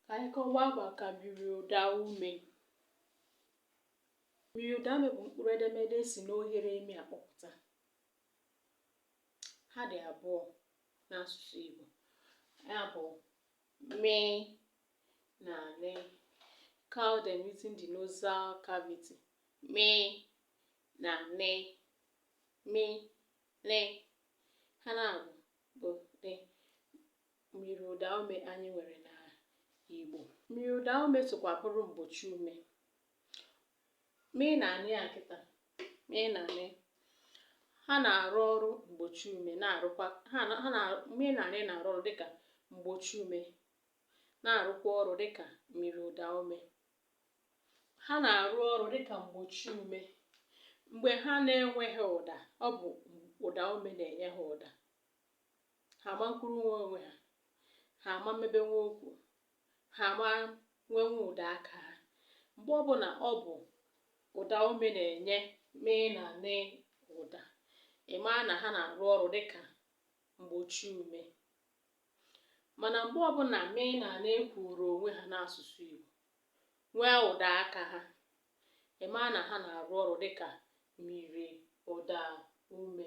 Ka anyị kọwaa maka myiriụdaume. Myiriụdaume bụ mkpụrụ edemede e si n'oghere imi akpọpụta. Ha dị abụọ n'asụsụ Igbo. Ya bụ mị na nị. Call them using the nasal cavity. Mị na nị. Mị, nị. Ha naabọ bụ the. Myiriụdaume anyị nwere na Igbo. Myiriụdaume sokwa bụrụ mgbochi ume. Mị na nị a kịta, mị na nị ha na-arụ ọrụ mgbochi ume na-arụkwa ha na ha na mị na nị a na-arụ ọrụ dịka mgbochi ume na-arụkwa ọrụ dịka myiriụdaume. Ha na-arụ ọrụ dịka mgbochi ume. Mgbe ha na-enweghị ụda, ọ bụ ụdaume na-enye ha ụda. ha ama nkwurunwe onwe ha ha ama mmebenwe okwu ha ama nwenwe ụda aka ha mgbe ọbụla ọ bụ ụdaume na-enye mị na nị ụda ị maa na ha na-arụ ọrụ dịka mgbochi ume mana mgbe ọbụla mị na nị kwuru onwe ha n'asụsụ Igbo nwee ụda aka ha ị maa na ha na-arụ ọrụ dịka myiriụdaume